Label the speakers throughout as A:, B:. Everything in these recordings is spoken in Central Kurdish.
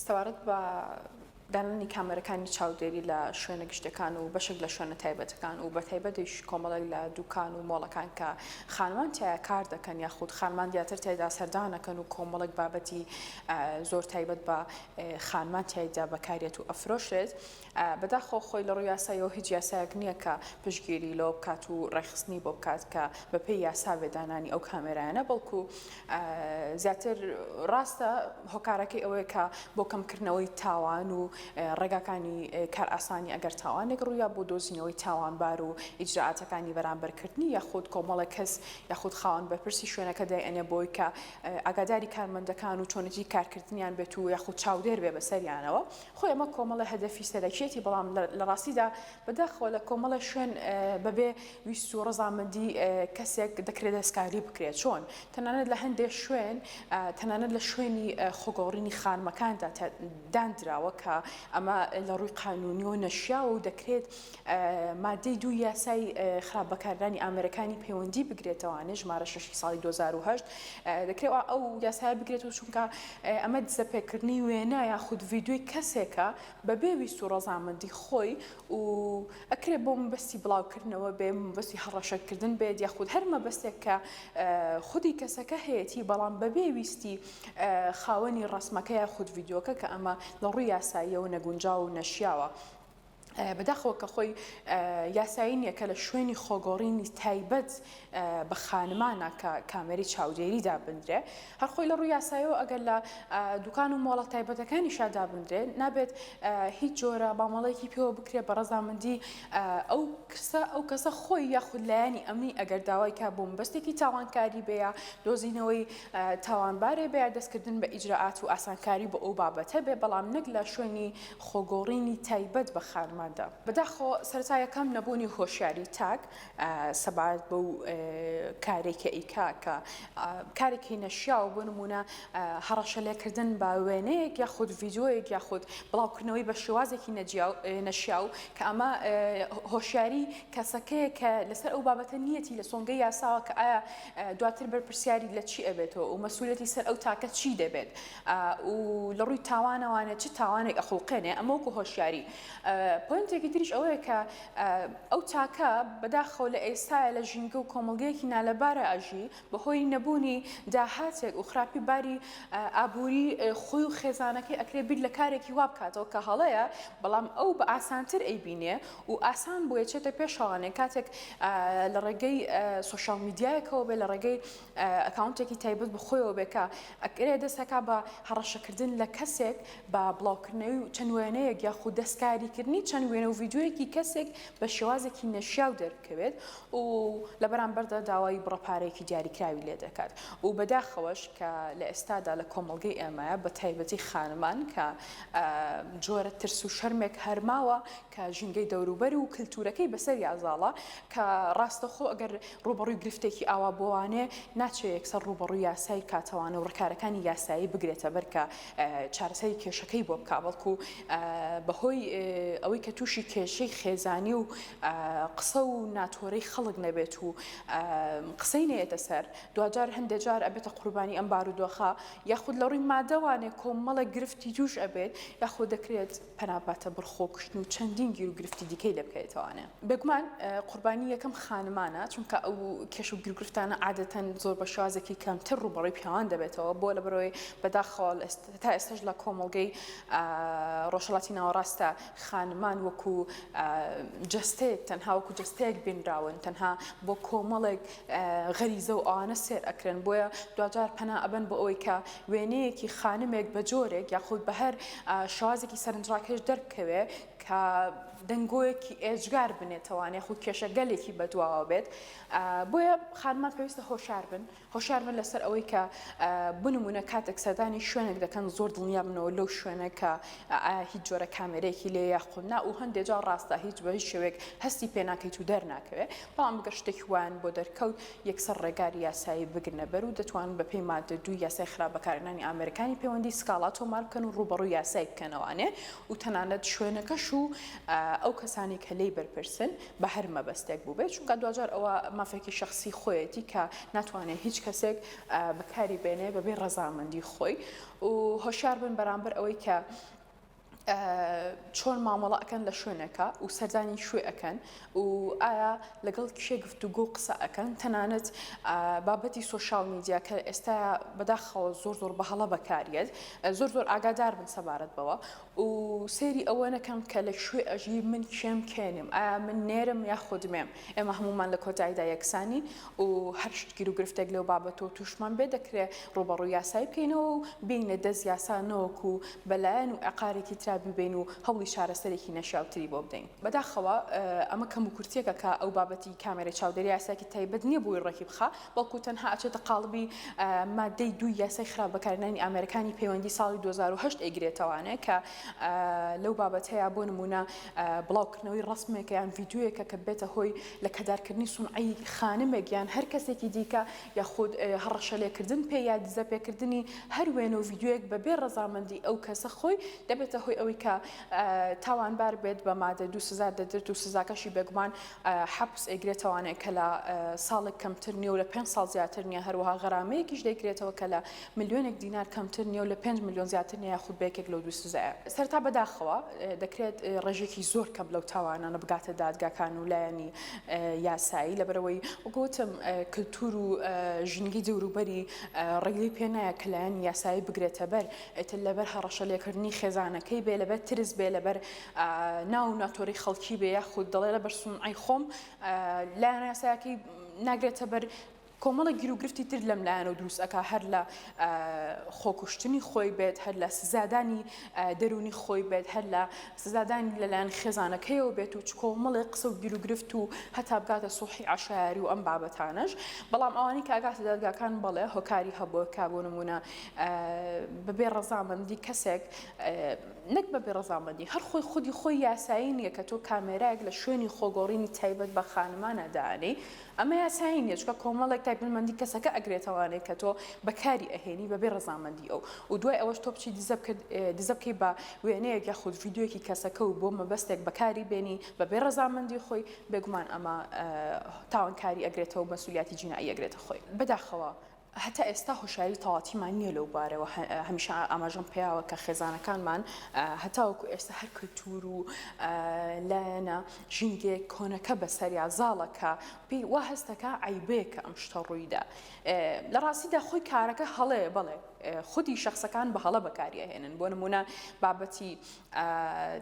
A: سەبارەت بە دانانی کامێرەکانی چاودێری لە شوێنە گشتیەکان و بەشێک لە شوێنە تایبەتەکان و بە تایبەتیش کۆمەڵێک لە دوکان و مۆڵەکان کە خانمان تایە کار دەکەن یاخود خانمان دیاتر تایدا سەردانەکەن و کۆمەڵێک بابەتی زۆر تایبەت بە خانمان تایدا بەکارێت و ئەفرۆشێت بەداخەوە خۆی لەڕووی یاساییەوە هیچ یاسایەک نییە کە پشتگیری لەوە بکات و ڕێکخستنی بۆ بکات کە بەپێی یاسا بێت دانانی ئەو کامێرایانە بەڵکو زیاتر ڕاستە هۆکارەکەی ئەوەیە کە بۆ کەمکردنەوەی تاوان و ڕێگاکانی کارئاسانی ئەگەر تاوانێک ڕوویا بۆ دۆزینەوەی تاوانبار و ئیجرائاتەکانی بەرامبەرکردنی یاخود کۆمەڵێک کەس یاخود خاوەن بەرپرسی شوێنەکە دایئەنێ بۆی کە ئاگاداری کارمەندەکان و چۆنێتی کارکردنیان بێت و یاخود چاودێر بێ بەسەریانەوە خۆی ئەمە کۆمەڵە هەدەفی سەرەکیەتی بەڵام لە ڕاستیدا بەداخەوە لە کۆمەڵە شوێن بەبێ ویست و ڕزامەندی کەسێک دەکرێت دەستکاری بکرێت چۆن تەنانەت لە هەندێک شوێن تەنانەت لە شوێنی خۆگەوڕینی خانمەکاندا داندراوە کە ئەمە لە ڕووی قانونی و نەشیاوە و دەکرێت ماددەی دووی یاسای خراپ بەکاردانی ئامێرەکانی پەیوەندی بگرێتەوانێ ژمارە شەشی ساڵی دوو هەزار و هەشت دەکرێت ئەو یاسایە بگرێت و چونکە ئەمە دزەپێکردنی وێنا یاخود ڤیددیوی کەسێکە بەبێ ویست و ڕەزامەندی خۆی و ئەکرێت بۆ مەبەستی بڵاوکردنەوە بێ مەبەستی هەڕەشەکردن بێت یاخود هەر مەبەستێک کە خودی کەسەکە هەیەی بەڵام بەبێ ویستی خاوەنی ڕسمەکە یاخود ڤیددیوکە کە ئەمە لە ڕووی یاساییەوە نەگونجاو و نەشیاوە. بەداخەوە کە خۆی یاسایی نییە کە لە شوێنی خۆگۆڕینی تایبەت بە خانمانە کە کامێری چاودێری دابدرێ هەر خۆی لە ڕوو یاسایەوە ئەگەر لە دوکان و مۆڵە تایبەتەکانی شادابدرێ نابێت هیچ جۆرە مامەڵەیەکی پێوە بکرێ بە ڕزامەندی ئەو کەسە ئەو کەسە خۆی یاخود لایەنی ئەمنی ئەگەر داوای کا بۆم بەستێکی تاوانکاری بەیە دۆزینەوەی تاوانبارێ بەیە دەستکردن بە ئیجرراعات و ئاسانکاری بۆ ئەو بابەتە بێ بەڵام نەک لە شوێنی خۆگۆڕینی تایبەت بە خانماندا. بەداخۆ سەرەتا یەکەم نەبوونی هۆشیاری تاک سەبارەت بەو کارەی کە ئەیکا کە کارێکی نەشیاو بۆ نموونە هەڕەشە لێکردن بە وێنەیەک یاخود ڤیدیۆیەک یاخود بڵاوکردنەوەی بە شێوازێکی نەجیاو نەشیاو کە ئەمە هۆشیاری کەسەکەیە کە لەسەر ئەو بابەتە نیەتی لە سۆنگەی یاساوە کە ئایا دواتر بەرپرسیاری لە چی ئەبێتەوە و مەسولیەتی سەر ئەو تاکە چی دەبێت و لە ڕووی تاوانەوانە چ تاوانێک ئەخوڵقێنێ ئەمە وەکو هۆشیاری پۆینتێکی تریش ئەوەیە کە ئەو تاکە بەداخەوە لە ئێستاە لە ژینگە و کۆمەڵگەیەکی نالەبارە ئەژی بەهۆی نەبوونی داهاتێک و خراپی باری ئابووری خۆی و خێزانەکەی ئەکرێ بیر لە کارێکی وابکاتەوە کە هەڵەیە بەڵام ئەو بە ئاسانتر ئەیبینێ و ئاسان بۆیە چێتە پێشەوانێ کاتێک لە ڕێگەی سوۆشال میدیایەکەوە بێ لە ڕێگەی ئەکاونتێکی تایبەت بە خۆیەوە بێت کە ئەکرێ دەست ئەکا بە هەڕەشەکردن لە کەسێک بە بڵاوکردنەوی چەند وێنەیەک یاخود دەستکاریکردنی چەند وێنە و ڤیدیۆیەکی کەسێک بە شێوازێکی نەشیاو دەربکەوێت و لە بەرامبەردا داوای بڕە پارەیەکی دیاریکراوی لێ دەکات و بەداخەوەش کە لە ئێستادا لە کۆمەڵگەی ئێمەیە بە تایبەتی خانمان کە جۆرە ترس و شەرمێک هەر ماوە کە ژینگەی دەوروبەر و کلتورەکەی بەسەریا زاڵە، کە ڕاستەخۆ گەر ڕووبەڕووی گرفتێکی ئاوا بووانێ، ناچێ یەکسەر ڕووبەڕووی یاسای کاتەوانە و ڕکارەکانی یاسایی بگرێتە بەر کە چارەسەری کێشەکەی بۆ بکا، بەڵکو بەهۆی ئەوەی کە تووشی کێشەی خێزانی و قسە و ناتۆرەی خەڵک نەبێت و قسەی نەیەتە سەر، دواجار هەندێ جار ئەبێتە قوربانی ئەم بارودۆخە، یاخود لە ڕووی مادەوانێ کۆمەڵێک گرفتی تووش ئەبێت، یاخۆ دەکرێت. پەنا باتە بڕخۆ کوشتن و چەندین گیر و گرفتی دیکەی لێ بکەوێتەوانێ. بێگومان قوربانی یەکەم خانمانە، چونکە ئەو کێش و گیروگرفتانە عادەتەن زۆر بە شێوازێکی کەمتر ڕووبەڕووی پیاوان دەبێتەوە، بۆ لەبەرئەوەی بەداخەوە تا ئێستەش لە کۆمەڵگەی ڕۆژهەڵاتی ناوەڕاستدا خانمان وەکوو جەستەیەک تەنها وەکوو جەستەیەک بینراون، تەنها بۆ کۆمەڵێک غەریزە و ئەوانە سێر ئەکرێن بۆیە دواجار پەنا ئەبەن بۆ ئەوەی کە وێنەیەکی خانمێک بە جۆرێک یاخود بە هەر شازێکی سەرنجڕاکێش دەربکەوێ کە دەنگۆیەکی ئێجگار بنێتەوان یاخود کێشەگەلێکی بەدواوە بێت بۆیە خانمان پێویستە هۆشار بن هۆشار بن لەسەر ئەوەی کە بنمونە کاتێک سەردانی شوێنێک دەکەن زۆر دڵنیا بنەوە لەو شوێنە کە هیچ جۆرە کامێرەیەکی لێ یاخود نا و هەندێجا ڕاستە هیچ بە هیچ شوێک هەستی پێناکەیت و دەرناکەوێت بەڵام گەر شتێکی وایان بۆ دەرکەوت یەکسەر ڕێگا یاسایی بگرنە بەر و دەتوانن بەپێی ماددە دووی یاسای خراپ بەکارهێنانی ئامێرەکانی پەیوەندی سکاڵا تۆمار بکەن و ڕووبەڕووی یاسای بکەنەوانێ و تەنانەت شوێنەکەش و ئەو کەسانەی کە لێی بەرپرسن بە هەر مەبەستێک بووبێت چونکا دواجار ئەوە مافێکی شەخسی خۆیەتی کە ناتوانێ هیچ کەسێک بەکاری بێنێ بەبێ ڕەزامەندی خۆی و هۆشیار بن بەرامبەر ئەوەی کە چۆن مامەڵە ئەکەن لە شوێنەکە و سەردانی شوێ ئەەکەن و ئایا لەگەڵ کێ گفتوگۆ و قسە ئەەکەن تەنانەت بابەتی سوۆشال میدیا کە ئێستا بەداخەوە زۆر زۆر بە هەڵە بەکاریت زۆر زۆر ئاگادار بن سەبارەت بەوە و سێری ئەوە نەکەم کە لە شوێ ئەژی من کێم کێنم ئایا من نێرم یاخودمێم ئێمە هەموومان لە کۆتاییدا یەکسانین و هەر شت گیر و گرفتێک لەو بابەتەوە تووشمان بێت دەکرێت ڕووبەڕووی یاسایی بکەینەوە و بێینە دەست یاسا نەوەکو بە لایەن و عەقارێکی ترا بیبەین و هەوڵی چارەسەرێکی نەشیاوتری بۆ بدەین. بەداخەوە ئەمە کەموکورتییەکە کە ئەو بابەتی کامێرەی چاودێری یاسایەکی تایبەت نییە بۆی ڕێکی بخا، بەڵکو تەنها ئەچێتە قاڵبی ماددەی دووی یاسای خراپ بەکارهێنانی ئامێرەکانی پەیوەندی ساڵی دوو هەزار و هەشت ئەیگرێتەوانێ کە لەو بابەتەیا بۆ نمونە بڵاوکردنەوەی ڕسمێکە یان ڤیدیۆیەکە کە بێتە هۆی لە کەدارکردنی سونعی خانمێک یان هەر کەسێکی دیکە یاخود هەڕەشەلێکردن پێ یا دزە پێکردنی هەر وێنە و ڤیدیۆیەک بەبێ ڕەزامەندی ئەو کەسە خۆی دەبێتە هۆی ئەوەی کە تاوانبار بێت بە مادە دوو سزا دەدرێت و سزاکەشی بێگومان حەپس ئەیگرێتەوانێ کە لە ساڵێک کەمتر نیە و لە پێنج ساڵ زیاتر نیە هەروەها غەرامەیەکیش دەیگرێتەوە کە لە ملیۆنێک دینار کەمتر نیە و لە پێنج ملیۆن زیاتر نیە یاخود بە یەکێک لەو دوو سزایە سەرەتا بەداخەوە دەکرێت ڕێژێکی زۆر کەم لەو تاوانانە بگاتە دادگاکان و لایەنی یاسایی لەبەرەوەی وگوتم کللتور و ژنگی دەوروبەری ڕێگەی پێ نایە کە لایەنی یاسایی بگرێتە بەر ئێتر لەبەر هەڕەشە لێکردنی خێزانەکەی بێ لەبەر ترس بێ لەبەر ناو و ناتۆرەی خەڵکی بێ یاخود دەڵێ لە بەر سومعەی خۆم لایەنە یاسایەکەی ناگرێتە بەر کۆمەڵە گیروگرفتی تر لەم لایەن و دروست ئەک هەر لە خۆکوشتنی خۆی بێت هەر لە سزادانی دەرونی خۆی بێت هەر لە سزادانی لەلایەن خێزانەکەیەوە بێت و چکۆمەڵێ قسە و گیروگرفت و هەتا بگاتە سوحی عشاری و ئەم بابەتانەش بەڵام ئەوانی کاگاتە دادگاکان بەڵێ هۆکاری هەبووە کا بۆ نمونە بەبێ ڕەزامەندی کەسێک نەک بەبێ ڕەزامەندی، هەر خۆی خودی خۆی یاسایی نییە کە تۆ کامێرایەک لە شوێنی خۆگۆڕینی تایبەت بە خانمانە دانێی، ئەمە یاسایی نییە چونکە کۆمەڵێک تایبەتمەندی کەسەکە ئەگرێتەوانێ کە تۆ بەکاری ئەهێنی بەبێ ڕەزامەندی ئەو و دوای ئەوەش تۆ بچی دزە بکەی بە وێنەیەک یاخود ڤیدیۆیەکی کەسەکە و بۆ مەبەستێک بەکاری بێنی بەبێ ڕەزامەندی خۆی بێگومان ئەمە تاوانکاری ئەگرێتەوە و مەسولیاتی جینائی ئەگرێتە خۆی بەداخەوە هەتا ئێستا هۆشیاری تەواتیمان نییە لەو بارەوە، هەمیشە ئاماژەم پیاوە کە خێزانەکانمان هەتاوەکو ئێستا هەر کلتور و لایەنە ژینگەیەک کۆنەکە بەسەریا زاڵە کە پێی وا هەستەکە عەیبەیە کە ئەم شتە ڕوویدا. لە ڕاستیدا خۆی کارەکە هەڵەیە، بەڵێ خودی شەخسەکان بە هەڵە بەکاریئەهێنن، بۆ نموونە بابەتی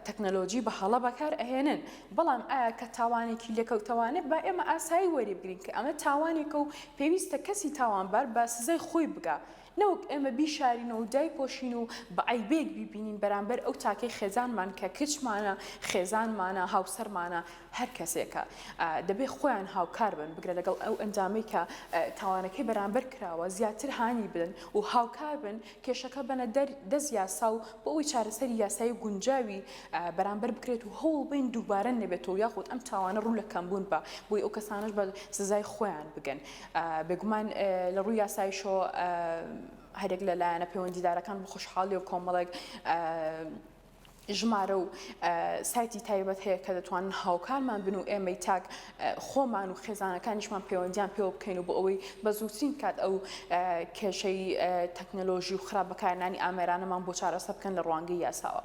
A: تەکنەلۆجی بە هەڵە بەکار ئەهێنن بەڵام ئایا کە تاوانێکی لێکەوتەوانێک با ئێمە ئاسایی وەری بگرین کە ئەمە تاوانێکە و پێویستە کەسی تاوانبار بە سزای خۆی بگا نەوەک ئێمە بیشارینەوە و دایپۆشین و بە عەیبێک بیبینین بەرامبەر ئەو تاکەی خێزانمان کە کچمانە خێزانمانە هاوسەرمانە هەر کەسێکە دەبێ خۆیان هاوکار بن بگرە لەگەڵ ئەو ئەنجامەی کە تاوانەکەی بەرامبەر کراوە زیاتر هانی بدەن و هاوکار بن کێشەکە بەنە دەست یاسا و بۆ ئەوەی چارەسەری یاسایی گونجاوی بەرامبەر بکرێت و هەوڵ بین دووبارە نەبێتەوە یاخود ئەم تاوانە ڕوو لە کەمبوون بە بۆی ئەو کەسانش بە سزای خۆیان بگەن بێگومان لە ڕووی یاسایشۆ هەرێک لە لایەنە پەیوەندیدارەکان بە خۆشحاڵی و کۆمەڵێک ژمارە و سایتی تایبەت هەیە کە دەتوانن هاوکارمان بن و ئێمەی تاک خۆمان و خێزانەکانیشمان پەیوەندیان پێوە بکەین و بۆ ئەوەی بە زووترین کات ئەو کێشەی تەکنەلۆژی و خراپ بەکارنانی ئامێرانەمان بۆ چارەسە بکەن لە ڕوانگەی یاساوە.